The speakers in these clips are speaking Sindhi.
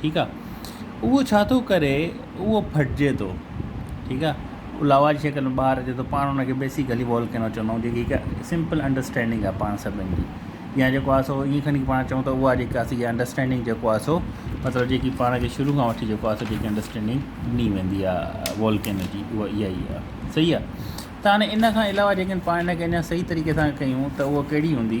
ٺيڪ آ اهو ڇا ٿو ڪري اهو ڦٽجي ٿو ٺيڪ آ اهو لاوا جي شڪل ۾ ٻاهر اچي ٿو پاڻ ان کي بيسڪلي والڪينو چوندا آهيون جيڪي هڪ سمپل انڊرسٽينڊنگ آ پاڻ سڀني جي يا جيڪو آ سو ائين کڻي پاڻ چئون ته اها جيڪا سي انڊرسٽينڊنگ جيڪو آ سو مطلب جيڪي پاڻ کي شروع کان وٺي جيڪو آ سو جيڪي انڊرسٽينڊنگ ڏني ويندي آ والڪينو جي اها اها ئي آ صحيح آ ته هاڻي ان کان علاوه جيڪي پاڻ ان کي اڃا صحيح طريقي سان ڪيون ته اهو ڪهڙي هوندي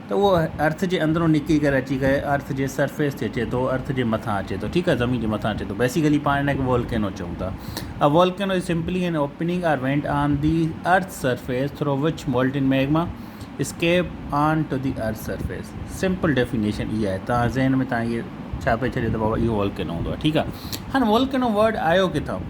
ته اهو ارٿ جي اندرون نڪري ڪري اچي ڪري ارٿ جي سرفيس تي اچي ٿو ارٿ جي مٿان اچي ٿو ٺيڪ آهي زمين جي مٿان اچي ٿو بيسيڪلي پاڻ هن کي والڪينو چئون ٿا a volcano is simply an opening or vent on the earth surface through which molten magma escape onto the earth surface simple definition اي آهي تان ذهن ۾ تان اهي ڇاپي ڇڏي ته بابا اهو والڪينو هوندو آهي ٺيڪ آهي هاڻي والڪينو ورڊ آيو ڪٿان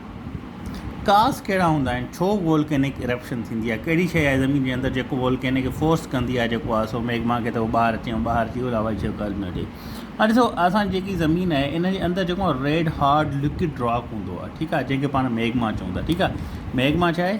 ڪاس ڪهڙا هوندا آهن؟ ڇو وولڪينڪ ارپشن ٿيندي آهي؟ ڪهڙي شيء آهي زمين جي اندر جيڪو وولڪيني کي فورس ڪندي آهي جيڪو آهي سو ميگما کي ته هو ٻاهر اچي ۽ ٻاهر اچي هو لاوا جي شڪل ۾ اچي هاڻي ڏسو اسان جي جيڪي زمين آهي ان جي اندر جيڪو ريڊ هارڊ لڪوڊ راڪ هوندو آهي ٺيڪ آهي جنهن کي پاڻ ميگما چون ٿا ٺيڪ آهي ميگما ڇا آهي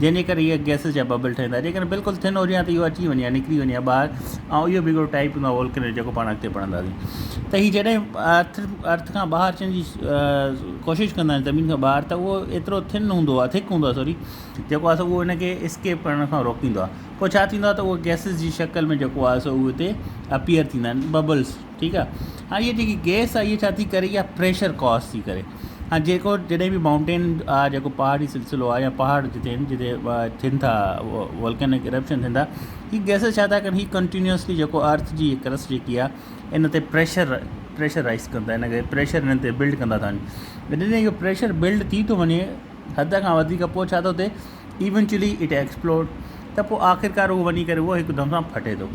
جنهن جي ڪري اهي گئسز جا ببل ٺهن ٿا جيڪڏهن بلڪل ٿن هجن ها ته اهو اچي وڃي ها نڪري وڃي ها ٻاهر ۽ اهو به هڪڙو ٽائيپ هوندو آهي وولڪينو جو جيڪو پاڻ اڳتي پڙهنداسين ته هي جڏهن ارٿ ارٿ کان ٻاهر اچڻ جي ڪوشش ڪندا آهن زمين کان ٻاهر ته اهو ايترو ٿن هوندو آهي ٿڪ هوندو آهي سوري جيڪو آهي سو اهو ان کي اسڪيپ ڪرڻ کان روڪيندو آهي پوء ڇا ٿيندو آهي ته اهو گئسز جي شڪل ۾ جيڪو آهي سو اهو هتي اپيئر ٿيندا آهن ببلز ٺيڪ آهي هاڻ هي جيڪي گئس آهي هي ڇا ٿي ڪري اها پريشر ڪاز ٿي ڪري ۽ جيڪو جڏهن به مائونٽين آ جيڪو پهاڙي سلسلو آ يا پهاڙ جتي آهن جتي ٿين ٿا والڪينڪ ارپشن ٿين ٿا هي گئسز ڇا ٿا ڪن هي ڪنٽينيوسلي جيڪو ارٿ جي ڪرسٽ جيڪي آ ان تي پريشر پريشر رائز ڪن ٿا ان ڪري پريشر انهن تي بلڊ ڪندا ٿا وڃن جڏهن اهو پريشر بلڊ ٿي ٿو وڃي حد کان وڌيڪ پوء ڇا ٿو ٿئي Eventually it explodes ته پوء آخرڪار اهو وڃي ڪري اهو هڪدم سان ڦٽي ٿو.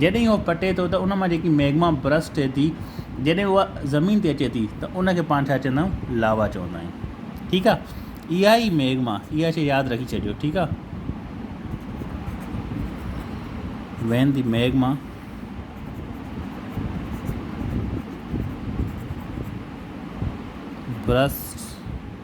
جڏهن اهو ڦٽي ٿو ته ان مان جيڪي ميگما برسٽ ٿئي ٿي جڏهن اها زمين تي اچي ٿي ته ان کي پاڻ ڇا چوندا آهيون لاوا چوندا آهيون ٺيڪ آهي اها ئي ميگما اها شي ياد رکي ڇڏيو ٺيڪ آهي وين دي ميگما برسٽ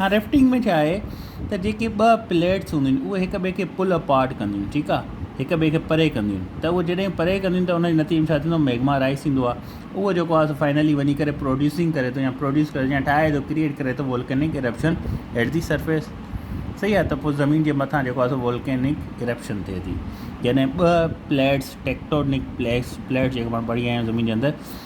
هاڻ ريفٽنگ ۾ ڇا آهي ته جيڪي ٻه پليٽس هونديون آهن اهي هڪ ٻئي کي پل اپارٽ ڪنديون آهن ٺيڪ آهي هڪ ٻئي کي پري ڪنديون آهن ته اهو جڏهن پري ڪنديون ته ان جي نتيجي ۾ ڇا ٿيندو ميگما رائز ٿيندو آهي اهو جيڪو آهي فائنلي وڃي ڪري پروڊيوسنگ ڪري ٿو يا پروڊيوس ڪري يا ٺاهي ٿو ڪريئيٽ ڪري ٿو volcanic eruption at the surface صحيح آهي ته پوء زمين جي مٿان جيڪو آهي سو وولڪينڪ ارپشن ٿئي ٿي جڏهن ٻه پليٽس ٽيڪٽونڪ پليس پليٽس جيڪو پاڻ پڙهي آيا آهيون زمين جي اندر